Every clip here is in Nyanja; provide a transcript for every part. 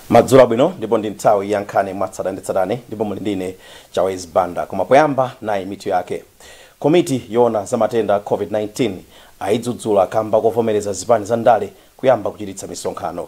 madzulo abwino ndipo ndi nthawi ya nkhani mwatsatanetsatane ndipo muli ndine chawezi banda koma poyamba nayi mitu yake komiti yoona za matenda a covid-19 ayidzudzula kamba kovomereza zipani za ndale kuyamba kuchititsa misonkhano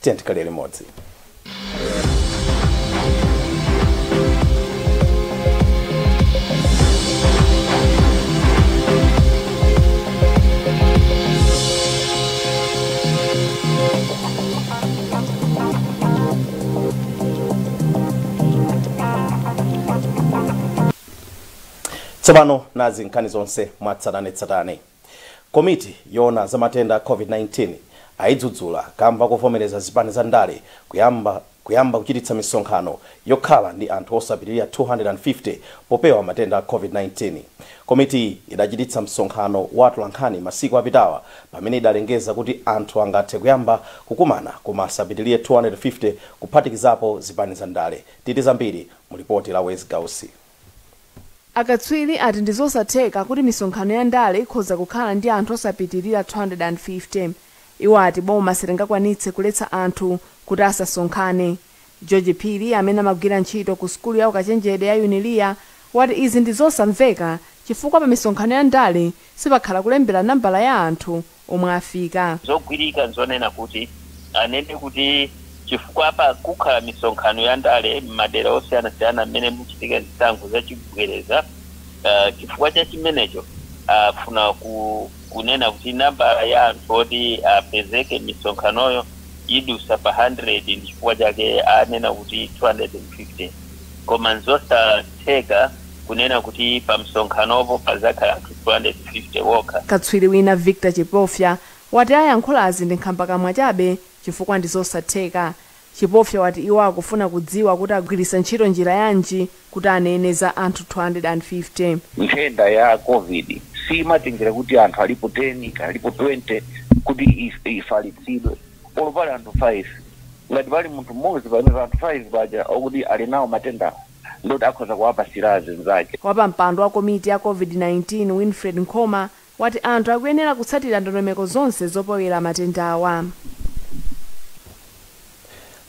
Tiyeni tikhale limodzi. tsopano nazi nkhani zonse mwatsatanetsatane Komiti yoona za matenda a Covid-19 ayidzudzula kamba kovomereza zipani za ndale kuyamba kuchititsa misonkhano yokhala ndi anthu osapitilira 250 popewa matenda a Covid-19. Komitiyi idachititsa msonkhano wa atolankhani masiku apitawa pamene idalengeza kuti anthu angathe kuyamba kukumana koma asapitilire 250 kuphatikizapo zipani za ndale. Titi zambiri mu lipoti la Wezi Gausi. Akatswiri ati ndi zosatheka kuti misonkhano ya ndale ikhoza kukhala ndi anthu osapitirira 250. Iwo ati boma silingakwanitse kuletsa anthu kuti asasonkhane. George Phiri amene amagwira ntchito ku sukulu ya ukachenjede ya Unilia wati izi ndi zosamveka chifukwa pamisonkhano ya ndale sipakhala kulembera nambala ya anthu omwe afika. Zogwirika n'zonena kuti anene kuti chifukwa pakukhala misonkhano ya ndale m'madera osiyanasiyana mmene muchitika zisankho zachibwereza, chifukwa cha chimenecho afuna kunena kuti nambala ya anthu oti apezeke m'misonkhanoyo idusa pa 100 ndi chifukwa chake anena kuti 250. Koma n'zosatheka. kunena kuti pamsonkhanopo padzakhala anthu 250 okha. Katswiri wina Victor Chipofya wati ayankhulazi ndi nkhambakamwa chabe chifukwa ndi zosatheka. Chipofya wati iwo akufuna kudziwa kuti agwiritsa ntchito njira yanji kuti aneneza anthu 250. Nthenda ya Covid siimatengera kuti anthu alipo 10 kaya alipo 20 kuti ifalitsidwe. Olo pali anthu 5, ngati pali munthu mmodzi pa anthu 5 paja akuti ali nawo matendawo, ndiye kuti akhoza kuwapatsira azinzake. Wapampando wa komiti ya Covid-19 Wilfred Nkhoma wati anthu akuyenera kutsatira ndondomeko zonse zopewera matendawa.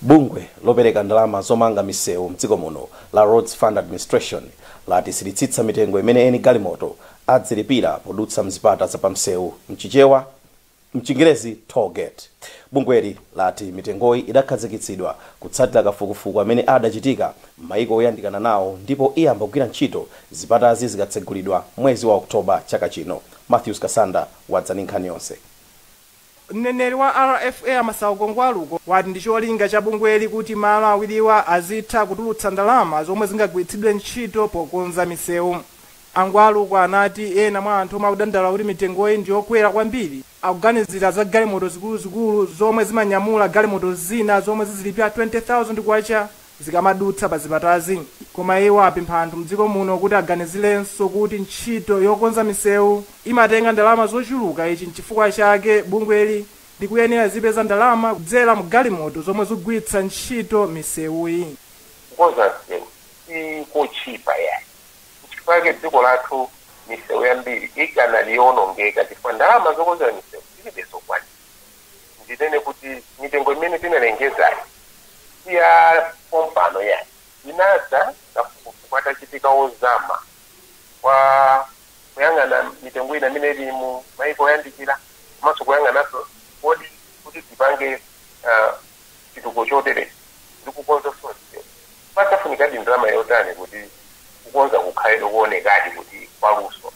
Bungwe lopereka ndalama zomanga misewu mdziko muno la Roads Fund Administration lati silitsitsa mitengo imene eni galimoto adzilipira podutsa mzipata za pamsewu. M'Chichewa. M'chingerezi, toll gate. Bungweli lati mitengoyi idakhazikitsidwa kutsatira kafukufuku amene adachitika m'maiko oyandikana nawo ndipo iyamba kugwira ntchito zipatazi zikatsegulidwa mwezi wa October chaka chino. Mathews Kasanda wadza ndi nkhani yonse. Mneneri wa RFA a Masauko Ngwaluko wati ndi cholinga cha bungweli kuti malo awiriwa azitha kutulutsa ndalama zomwe zingagwiritsidwe ntchito pokonza misewu. A Ngwaluko anati ena mwa anthu omwe akudandaula kuti mitengoyi ndi yokwera kwambiri akuganizira za galimoto zikuluzikulu zomwe zimanyamula galimoto zina zomwe zizilipira K20,000 zikamadutsa pa zipatazi koma iwo apempha anthu mdziko muno kuti aganizilenso kuti ntchito yokonza misewu imatenga ndalama zochuluka ichi nchifukwa chake bungweli likuyenera lizipeza ndalama kudzera mu galimoto zomwe zigwiritsa ntchito misewuyi. Kukonza msewu si kotchipa yayi. Nchifukwa chake dziko lathu misewu yambiri ikanali yoonongeka chifukwa ndalama zokonzera misewu tilibe zokwanira. Ndinene kuti mitengo imene tinalengezayi si ya pompano yayi. Inadza kafukufuku atachitika ozama wa kuyang'ana mitengo ina imene ili mu maiko oyandikira komanso kuyang'ananso kodi kuti tipange ah, chitukuko choterechi ndi kukonza fonico, padzafunikadi ndalama yotani kuti kukonza kukhale koonekadi kuti nkwaluso?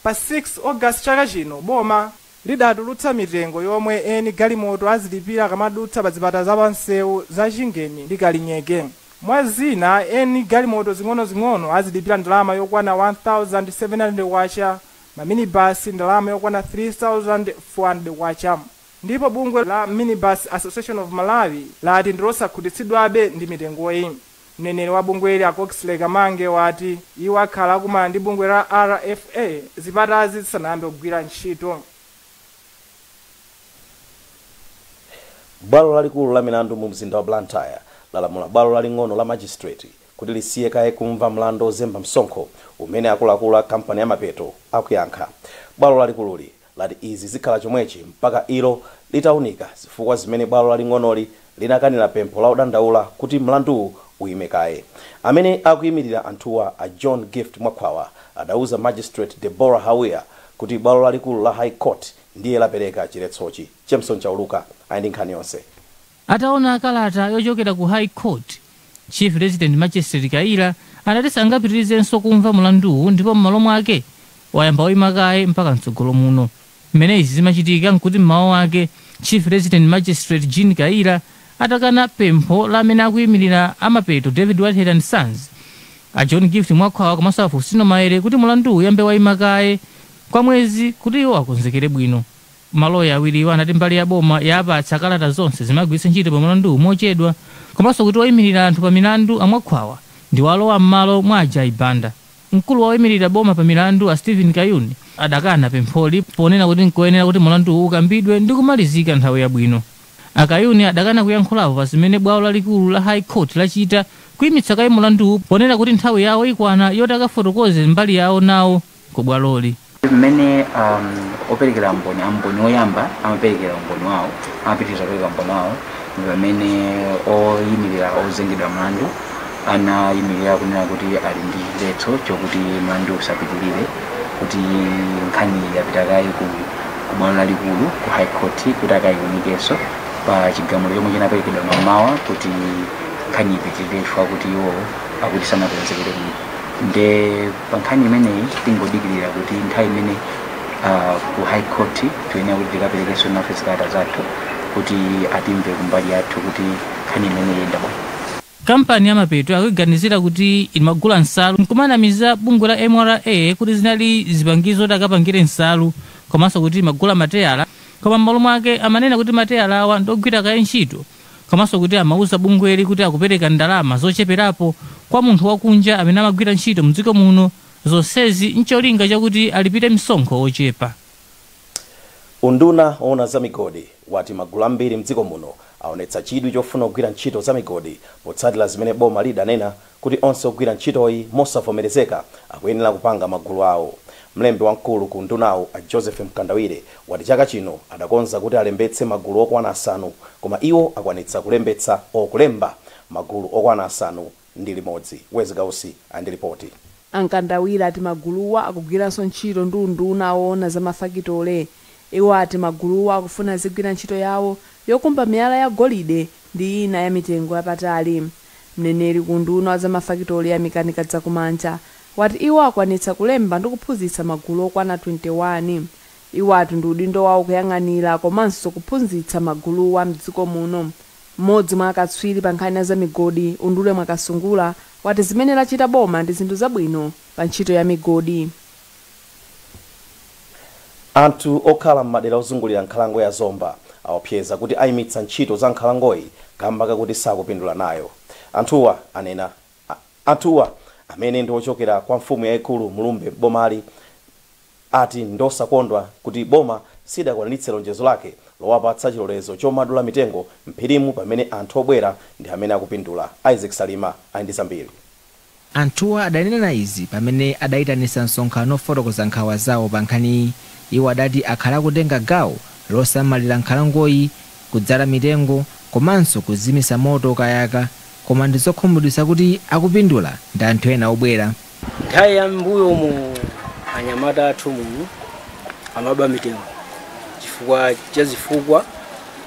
Pa 6 August chaka chino, boma lidatulutsa mitengo yomwe eni galimoto azilipira akamadutsa pa zipata za pamsewu za Chingeni ndi Kalinyeke. Mwa zina, eni galimoto zing'onozing'ono azilipira ndalama yokwana K1,700, maminibasi ndalama yokwana K3,400. Ndipo bungwe la Minibus Association of Malawi lati ndilosakhutitsidwabe ndi mitengoyi. Mneneri wa bungweli a Coxley Kamange wati iwo akhala akumana ndi bungwe la RFA zipatazi zisanayambe kugwira ntchito. Bwalo lalikulu la milandu mu mzinda wa Blantyre lalamula bwalo laling'ono la Magistrate kuti lisiye kaye kumva mlandu ozemba msonkho umene akuluakulu a kampani ya Mapeto akuyankha. Bwalo lalikululi lati izi zikhala chomwechi mpaka ilo litaunika zifukwa zimene bwalo laling'onoli linakanila pempho la odandaula kuti mlanduwu uyime kaye. Amene akuyimilira anthuwa a John Gift Mwakhwawa adauza Magistrate Deborah Hawia kuti bwalo lalikulu la High Court ndiye lapereka chiletsochi. Jameson Chauluka ali ndi nkhani yonse. Ataona kalata yochokera ku High Court, Chief Resident Magistrate Kayira anati sangapitirizenso kumva mlanduwu ndipo mmalo mwake wayamba waima kaye mpaka mtsogolo muno. Mmene izi zimachitika nkuti mmawa wake Chief Resident Magistrate Jean Kayira atakana pempho la amene akuimilira a Mapeto David Whitehead and Sons, a John Gift Mwakhwawa komanso a Fostino Maele kuti mlanduwu uyambe waima kaye kwa mwezi kuti iwo akonzekere bwino. Maloya awiriwa ati mbali ya boma yaapatsa kalata zonse zimagwiritsa ntchito pa mlanduwu mochedwa komanso kuti oimilira anthu pa milandu a Mwakhwawa ndi walowa mmalo mwa a Jai Banda. Mkulu wa oimilira boma pa milandu a Steven Kayuni adakana pempholi ponena kuti nkoyenera kuti mlanduwu ukambidwe ndi kumalizika nthawi yabwino. A Kayuni adakana kuyankhulapo pa zimene bwalo lalikulu la High Court lachita kuimitsa kaye mlanduwu ponena kuti nthawi yawo ikwana yoti akafotokoze mbali yawo nawo. ku bwaloli. Mmene operekera a mboni oyamba amaperekera umboni wawo, amapitiriza kupereka umboni wawo ndi pamene oyimirira ozengedwa mlandu anayimirira kunena kuti ali ndi chiletso chokuti mlanduwu usapitirire, kuti nkhaniyi yapita kaye ku ku bwalo lalikulu, ku High Court, kuti akayiwunikenso pa chigamulo chomwe chinaperekedwa mamawa kuti nkhaniyi ipitirire chifukwa kuti iwowo akuti sanakonzekere bwino. Nde. Pa nkhani imeneyi tingodikilira kuti nthawi imene ku high court tiyenera kuti tikaperekenso nafe zikalata zathu kuti atimve kumbali yathu kuti nkhani imeneyi iyenda bwanji. Kampani ya Mapeto akuiganizira kuti imagula nsalu n'kumanamiza bungwe la mra kuti zinali zipangizo zoti akapangire nsalu komanso kuti imagula mateyala koma m'malo mwake amanena kuti mateyalawa ndi ogwira kaye ntchito komanso kuti amauza bungweli kuti akupereka ndalama zocheperapo kwa munthu wakunja amene amagwira ntchito mdziko muno, zonsezi ncholinga chakuti alipire msonkho wochepa. Unduna owona za migodi wati magulu ambiri mdziko muno awonetsa chidwi chofuna kugwira ntchito za migodi potsatira zimene boma lidanena kuti onse ogwira ntchitoyi mosavomerezeka akuyenera kupanga magulu awo. Mlembi wamkulu ku undunawu a Joseph Mkandawire wati chaka chino adakonza kuti alembetse magulu okwana asanu koma iwo akwanitsa kulembetsa or kulemba magulu okwana asanu ndi limodzi. Wezi Gausi ali ndi lipoti. A Mkandawire ati maguluwa akugwiranso ntchito ndi unduna oona za mafakitole. Iwo ati maguluwa akufuna azigwira ntchito yawo yokumba miyala ya golide ndi ina ya mitengo yapatali. Mneneri ku unduna wa za mafakitole Yamikani Kadzakumanja wati iwo akwanitsa kulemba ndi kuphunzitsa magulu okwana 21. Iwo ati ndi udindo wawo kuyang'anira komanso kuphunzitsa maguluwa m'dziko muno. M'modzi mwa akatswiri pa nkhani za migodi Undule Mwakasungula wati zimene lachita boma ndi zinthu zabwino pa ntchito ya migodi. Anthu okhala m'madera ozungulira nkhalango ya Zomba aopseza kuti ayimitsa ntchito za nkhalangoyi kamba kakuti sakupindula nayo. Anthuwa amene ndi ochokera kwa mfumu yaikulu Mlumbe m'bomali ati ndiosakondwa kuti boma sidakwaniritse lonjezo lake lowapatsa chilolezo chomadula mitengo m'phirimu pamene anthu obwera ndi amene akupindula. Isaac Salima ali ndi zambiri. Anthuwa adanena izi pamene adaitanitsa msonkhano ofotokoza nkhawa zawo pa nkhaniyi. Iwo adati akhala akutenga gawo losamalira nkhalangoyi, kudzala mitengo komanso kuzimitsa moto ukayaka koma ndi zokhumudwitsa kuti akupindula ndi anthu ena obwera. Nthawi ya m'mbuyomu anyamata athu muno amaba mitengo chifukwa cha zifukwa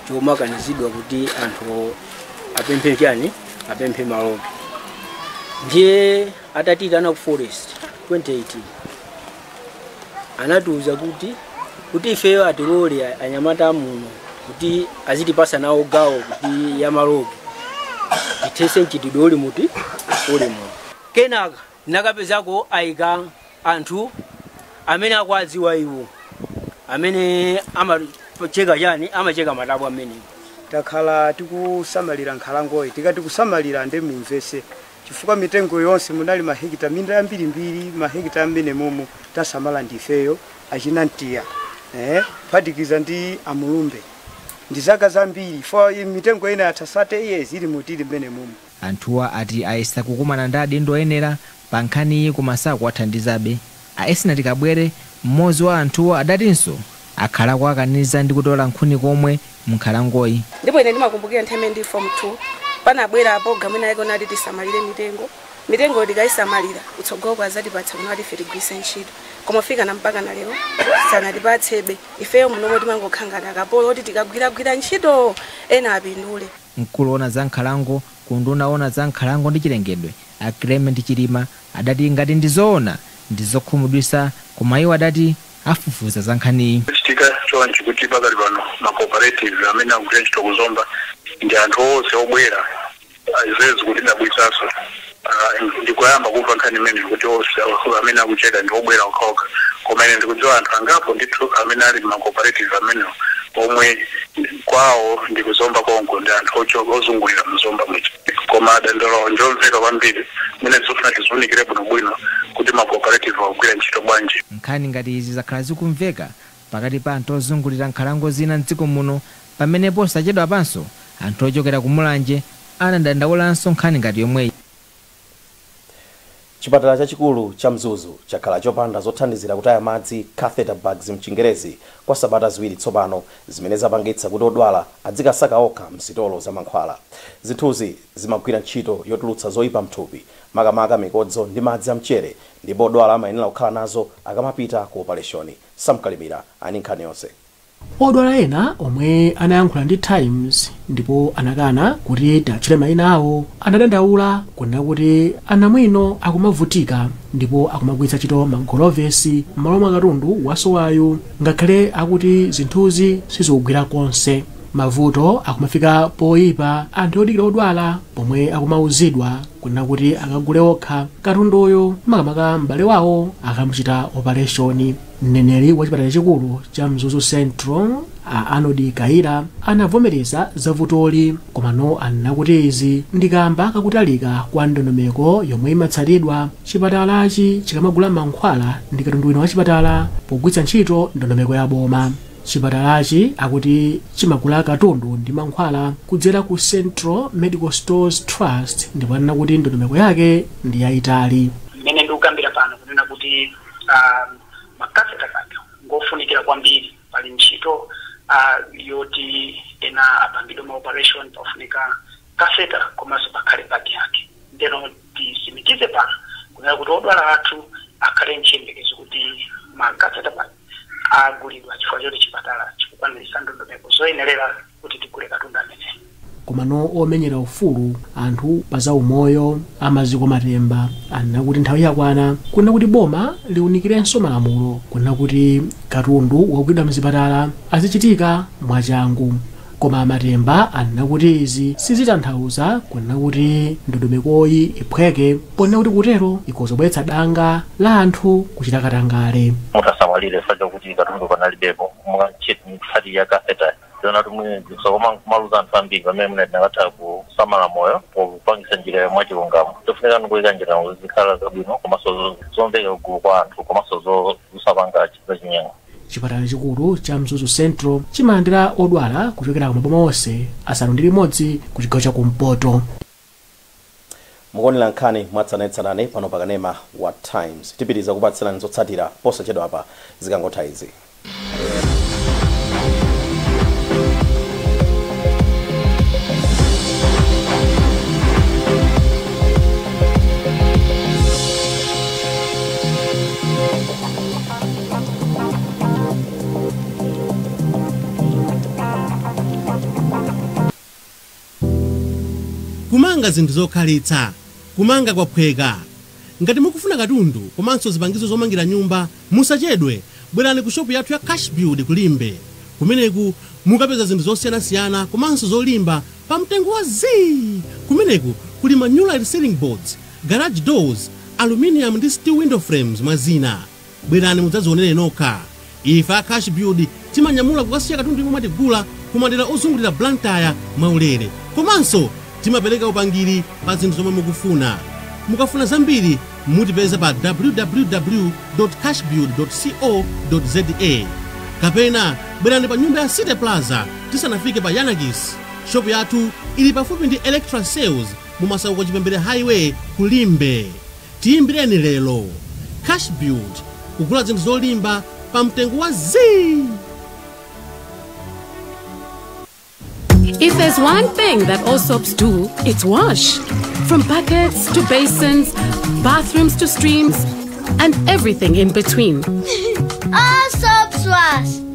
chomakanizidwa kuti anthu apemphe chani? apemphe malogi ndiye atatiyitana ku forest 2018 anatiuza kuti kuti ifeyo atilole a- anyamata amuno kuti azitipasa nawo gawo kuti ya malogi tithese mchitidwe uli muti uli muno kenaka Nakapezako aika anthu amene akuwadziwa iwo amene amacheka chani amacheka matabwa mmenemo. Takhala tikusamalira nkhalangoyi tikati kusamalira nde mumvetse chifukwa mitengo yonse munali mahekita minda yambirimbiri mahekita a mmenemomu tasamala ndi ifeyo achina Ntiya eeh kuphatikiza ndi a Mulumbe ndi zaka zambiri chifukwa mitengo ina yatha 30 years ili mu tili mmenemomu. Anthuwa ati ayesa kukumana ndi adindo oyenera pa nkhaniyi koma sakuwathandizabe. A Esnart Kabwere, mmodzi wa anthuwa adatinso akhala akuwakaniza ndi kutola nkhuni komwe m'nkhalangoyi. Ndipo ine ndimakumbukira nthawi imene ndili Fomu 2, panabwera pulogalamu inayake yonena kuti tisamalire mitengo. Mitengoyo tikaisamalira, kutsogoloku adzatipatsa kunena kuti ife tigwiritse ntchito. Koma kufikana mpakana lero sanatipatsebe. Ifeyo munomo timangokhala ngati akapolo oti tikagwiragwira ntchito ena apindule. Mkulu oona za nkhalango ku unduna oona za nkhalango ndi chilengedwe a Clement Chilima adati ngati ndi zoona ndi zokhumudwisa koma iwo adati afufuza za nkhaniyi. Zachitika chonchi kuti pakali pano ma cooperatives amene akugwira ntchito ku Zomba ndi anthu onse obwera zimene zikutidabwitsaso. Aaah ndikoyamba kumva nkhani imeneyi kuti onse amene akucheka ndi obwera okhaokha koma ine ndikudziwa anthu angapo ndithu amene ali mma cooperative amenewo omwe kwawo ndi ku Zomba konko ndi anthu ochoka ozungulira mu Zomba muja koma dandaulo lawo ndilomveka kwambiri mwina zofuna tiziwunikire bwinobwino kuti ma cooperative akugwira ntchito bwanji. Nkhani ngati izi zakhala zikumveka pakati pa anthu ozungulira nkhalango zina m'dziko muno pamene posachedwapanso anthu ochokera ku Mulanje anadandaulanso nkhani ngati yomweyi. Chipatala chachikulu cha Mzuzu chakhala chopanda zothandizira kutaya madzi, catheter bags m'Chingerezi, kwa sabata ziwiri tsopano, zimene zapangitsa kuti odwala adzikasaka okha m'sitolo za mankhwala. Zinthuzi zimagwira ntchito yotulutsa zoipa m'thupi, makamaka mikodzo ndi madzi amchere, ndipo odwala amayenera kukhala nazo akamapita ku opaleshoni. Sam Kalimira ali ndi nkhani yonse. Odwala ena omwe anayankhula ndi Times ndipo anakana kuti tiatchule maina awo, anadandaula kunena kuti anamwino akumavutika ndipo akumagwiritsa ntchito magolovesi m'malo mwa katundu wasowayu ngakhale akuti zinthuzi sizikugwira konse. Mavuto akumafika poyipa anthu odikira odwala pomwe akumauzidwa kunena kuti akagule okha katunduyo makamaka m'bale wawo akamuchita opaleshoni mneneri wa chipatala chikulu cha mzuzu central a arnold kaira anavomereza za vutoli komano anena kuti izi ndi kamba kakutalika kwa ndondomeko yomwe imatsatidwa chipatalachi chikamagula mankhwala ndi katundu wina wa chipatala pogwiritsa ntchito ndondomeko ya boma Chipatalachi akuti chimagula katundu ndi mankhwala kudzera ku Central Medical Stores Trust ndipo anena kuti ndondomeko yake ndi yayitali. Mmene ndikukambira pano kunena kuti ma catheter bag ngofunikira kwambiri. Pali ntchito yoti ena apangidwe ma operation pafunika catheter komanso pakhale bag yake. Ndeno tisimikize pano kunena kuti odwala athu akhale nchiyembekezo kuti ma catheters. agulidwa chifukwa choti chipatala chikukwaniritsa ndondomeko zoyenerera kuti tigule katundu ameneyu komano omenyera ufulu anthu pa za umoyo a maziko matemba anena kuti nthawi yakwana kunena kuti boma liunikirenso malamulo kunena kuti katundu wogulidwa mzipatala azichitika mwachangu Koma a Matemba anena kuti izi sizitanthauza kunena kuti ndondomekoyi iphweke ponena kuti kutero ikhoza kubweretsa danga la anthu kuchita katangale. mutasamalire fact kuti katundu panalibepo mukangochet mikutsati ya catheter ndionatu mwini zinthu koma nkumaluza anthu ambiri pamene mwina tinakatha kusamala moyo popangisa njirayo mwachilungamo chofunika ndikuika njirano zizikhala zabwino komanso zo- zomveka kugulu kwa anthu komanso zo- zosapanga ch- zachinyengo Chipatala chachikulu cha Mzuzu Central chimalandira odwala kuchokera ku maboma onse asanu ndi limodzi ku chigawo cha kumpoto. Mukuonera nkhani mwatsatanetsatane pano pa kanema wa Times. Tipitiriza kupatsirani zotsatira posachedwapa zikangotha izi. Kumanga zinthu zokhalitsa, Kumanga kwaphweka. Ngati mukufuna katundu komanso zipangizo zomangira nyumba, musachedwe, bwerani ku shopu yathu ya Cashbuild ku Limbe. Kumeneku mukapeza zinthu zosiyanasiyana komanso zolimba pa mtengo wa zii! Kumeneku kuli ma Nulite Ceiling Boards, garage doors, aluminium ndi steel window frames mwa zina. Bwerani mudzazionere nokha. Ife a Cashbuild timanyamula kukasiya katundu yemwe mwatigula ku madera ozungulira Blantyre mwaulere. Komanso timapereka upangiri pa zinthu zomwe mukufuna. Mukafuna zambiri mutipeza pa www.cashbuild.co.za kapena bwerani pa nyumba ya City Plaza tisanafike pa Yanakis. Shop yathu ili pafupi ndi Electra Sales mumasauko chipembere highway ku limbe tiyimbireni lero cash build kugula zinthu zolimba pa mtengo wa zii! If there's one thing that all soaps do, it's wash. From buckets to basins, bathrooms to streams, and everything in between. All soaps wash.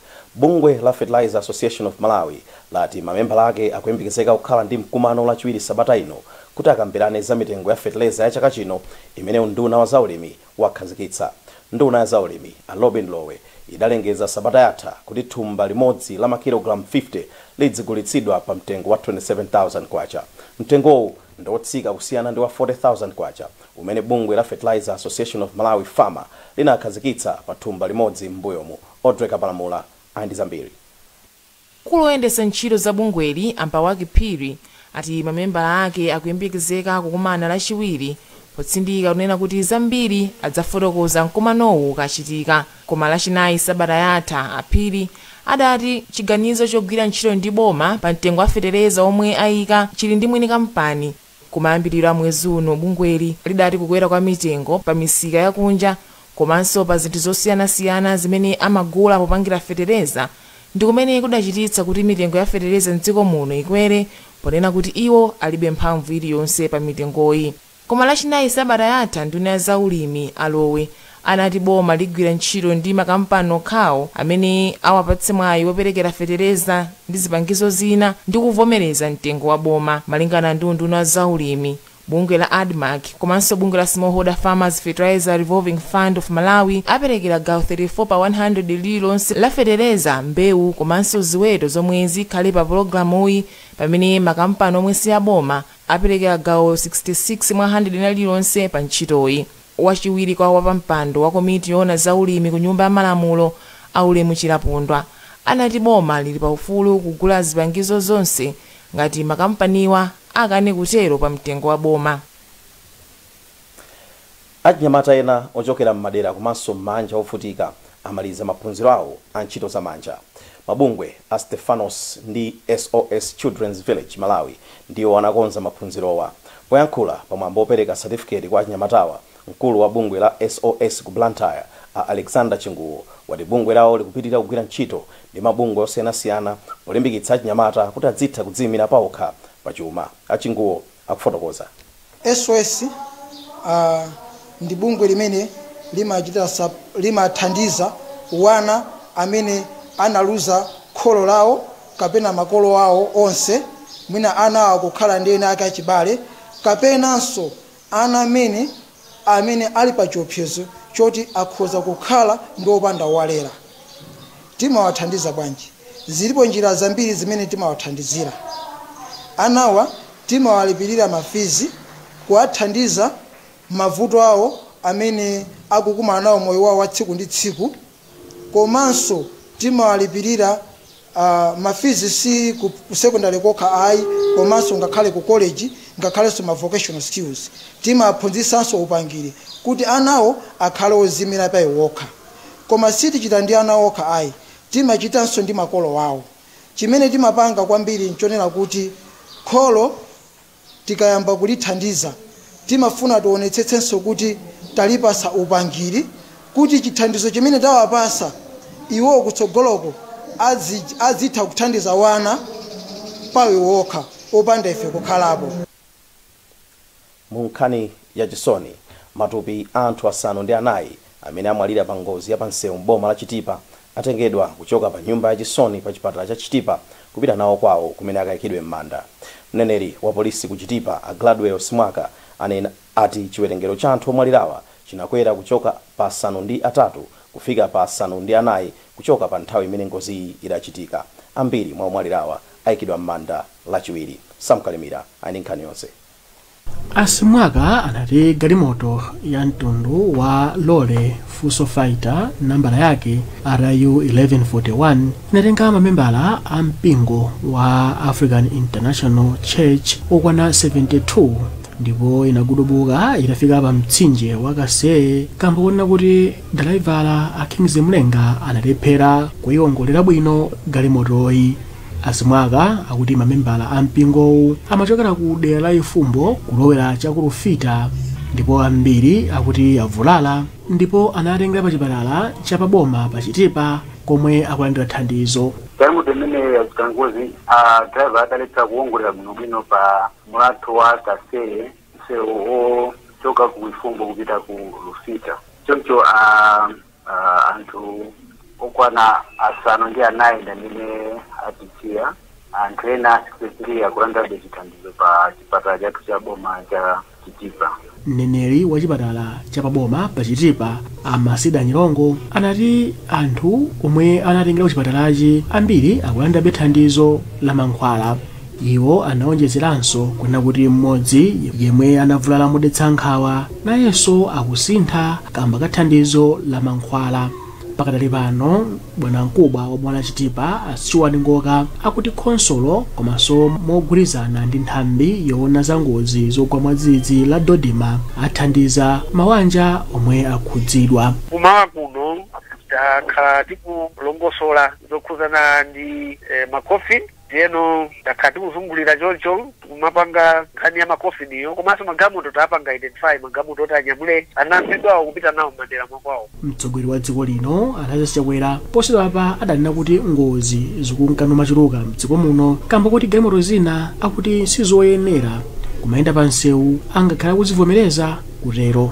Bungwe la Fertilizer Association of Malawi lati mamembala ake akuyembekezeka kukhala ndi mkumano lachiwiri sabata ino kuti akambirane za mitengo ya feteleza ya chaka chino imene unduna wa za ulimi wakhazikitsa. Nduna ya za ulimi a Lobin Lowe idalengeza sabata yatha kuti thumba limodzi la makilogalamu 50 lidzigulitsidwa pa mtengo wa K27,000. Mtengowu ndi otsika kusiyana ndi wa K40,000 umene bungwe la Fertilizer Association of Malawi, FAMA, linakhazikitsa pa thumba limodzi m'mbuyomu. Audrey Kapalamula ali ndi zambiri. Mkulu oyendetsa ntchito za bungweli, a Mbawaka Phiri, ati mamembala ake akuyembekezeka kukumana lachiwiri potsindika kunena kuti zambiri adzafotokoza mkumanowu ukachitika, koma lachinayi sabata yatha, a Phiri adati chiganizo chogwira ntchito ndi boma pa mtengo wa fetereza omwe ayika chili ndi mwini kampani. Kumayambiriro a mwezi uno bungweli lidati kukwera kwa mitengo pa misika ya kunja komanso pa zinthu zosiyanasiyana zimene amagula popangira fetereza ndi kumene kudachititsa kuti mitengo ya fetereza m'dziko muno ikwere ponena kuti iwo alibe mphamvu iliyonse pa mitengoyi. Koma Lachinayi sabata yatha nduna ya zaulimi a Lowe anati boma ligwira ntchito ndi makampani okhawo amene awapatse mwayi woperekera fetereza ndi zipangizo zina ndi kuvomereza mtengo wa boma. Malingana ndi unduna wa zaulimi, bungwe la Admarc komanso bungwe la Smallholder Farmers Fertilizer Revolving Fund of Malawi aperekera gawo 34 pa 100 lililonse la fetereza, mbewu komanso ziweto zomwe zikhale pa pulogalamuyi pamene makampani omwe si aboma aperekera gawo 66 mwa 100 lina lililonse pa ntchitoyi. Wachiwiri kwa wapampando wa komiti yoona za ulimi ku Nyumba ya Malamulo a Ulemu Chilapondwa anati boma lili pa ufulu kugula zipangizo zonse ngati makampaniwa akane kutero pa mtengo wa boma. Achinyamata ena ochokera m'madera komanso m'maanja ovutika amaliza maphunziro awo a ntchito za manja. Mabungwe a Stephanos ndi SOS Children's Village Malawi ndiwo anakonza maphunzirowa. Poyankhula pa mwambo wopereka satifiketi kwa achinyamatawa, mkulu wa bungwe la SOS ku Blantyre, a Alexander Chinguwo, wati bungwe lawo likupitirira kugwira ntchito ndi mabungwe osiyanasiyana polimbikitsa achinyamata kuti adzitha kudziyimira paokha pachuma. A Chinguwo akufotokoza. SOS ndi bungwe limene limachita sup limathandiza wana amene analuza kholo lawo kapena makolo awo onse, mwina anawo akukhala ndi ena ake achibale, kapenanso ana amene amene ali pachiopsezo choti akhoza kukhala ndi opanda owalera. Timawathandiza bwanji? Zilipo njira zambiri zimene timawathandizira. Anawa timawalipirira ma fizi, kuwathandiza mavuto awo amene akukumana nawo moyo wawo wa tsiku ndi tsiku komanso timawalipirira Aaa ma fees si ku ku secondary kokha ayi komanso ngakhale ku college ngakhalenso ma vocational skills timawaphunzitsanso upangiri kuti anawo akhale oziyimira pa iwo okha koma sitichita ndi ana okha ayi timachitanso ndi makolo awo chimene timapanga kwambiri nchonena kuti kholo Tikayamba kulithandiza, timafuna tionetsetsenso kuti talipatsa upangiri kuti chithandizo chimene tawapatsa iwowo kutsogoloko adzitha kuthandiza wana paiwo okha opanda ife kukhalapo. Mu nkhani ya chisoni, matupi a anthu asanu ndi anayi Amene amwalira pa ngozi ya pa nsewu m'boma la Chitipa atengedwa kuchoka pa nyumba ya chisoni pa chipatala cha Chitipa kupita nawo kwawo kumene akayikidwe m'manda. Mneneri wa polisi ku Chitipa a Gladwell Simwaka anena ati chiwerengero cha anthu omwalirawa chinakwera kuchoka pa asanu ndi atatu kufika pa asanu ndi anayi kuchoka pa nthawi imene ngoziyi idachitika. Ambiri mwa omwalirawa ayikidwa m'manda lachiwiri. Sam Kalimira ali ndi nkhani yonse. A Simwaka anati galimoto ya mtundu wa lole Fuso Fighter nambala yake RU 1141 inatenga mamembala a mpingo wa African International Church okwana 72 ndipo inagudubuka itafika pa mtsinje wa Kaseye kamba konena kuti dalaivala a Kingsley Mlenga analephera kuyiwongolera bwino galimotoyi. A Simwaka akuti mamembala a mpingowu amachokera ku dera la Ifumbo kulowera cha ku Lufita ndipo ambiri akuti avulala ndipo anatengeredwa pa chipatala cha pa boma pa Chitipa komwe akulandira thandizo. Galimoto imene yachita ngozi a driver adalephera kuwongolera bwinobwino pa mlatho wa Kaseye msewu ochoka ku Ifumbo kupita ku Lufita choncho a Uh, anthu okwana asanu ndi anayi ndamene atisiya anthu ena a 63 akulandabe chithandizo pa chipatala chathu cha boma cha chitipa mneneri wa chipatala cha paboma pa chitipa a masida nyirongo anati anthu omwe anatengeredwa ku chipatalachi ambiri akulandabe thandizo la mankhwala Iwo anaonjezeranso kunena kuti mmodzi yemwe anavulala modetsa nkhawa nayenso akusintha kamba ka thandizo la mankhwala. Pakadali pano bwanamkubwa wa boma la Chitipa a Stuart Ngoka akuti khonsolo komanso mogwirizana ndi nthambi yoona za ngozi zogwa mwadzidzidzi la Dodma athandiza mawanja omwe akhudzidwa. Kumawa kuno takhala tikulongosola zokhudzana ndi ma coffin. Ndiyeno takhala tikuzungulira choncho tikumapanga nkhani ya macoffin-yo komanso magalimoto tapanga identify magalimoto oti anyamule anamfedwawo kupita nawo m'madera mwa kwawo. Mtsogoleri wa dziko lino a Lazarus Chakwera posachedwapa adanena kuti ngozi zikunka nachuluka m'dziko muno kamba koti galimoto zina akuti sizoyenera kumayenda pa msewu angakhale akuzivomereza kutero.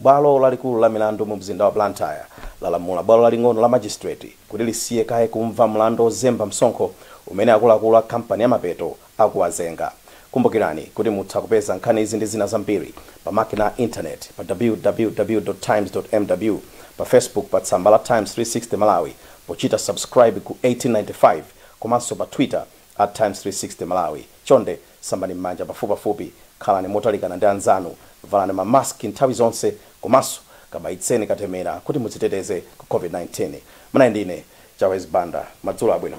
Bwalo lalikulu la milandu mu mzinda wa Blantyre lalamula bwalo laling'ono la Magistrate kuti lisiye kaye kumva mlandu ozemba msonkho umene akuluakulu a kampani ya Mapeto akuwazenga. Kumbukirani kuti mutha kupeza nkhani izi ndi zina zambiri pa makina a internet pa www.times.mw pa Facebook pa tsamba la Times 360 Malawi pochita subscribe ku 1895 komanso pa Twitter @times360 Malawi. Chonde Sambani m'manja pafupipafupi, khalani motalikana ndi anzanu, valani ma mask nthawi zonse komanso kabayitseni katemera kuti mudziteteze ku COVID-19. Munali ndi ine, Chawezi Banda. Madzulo abwino.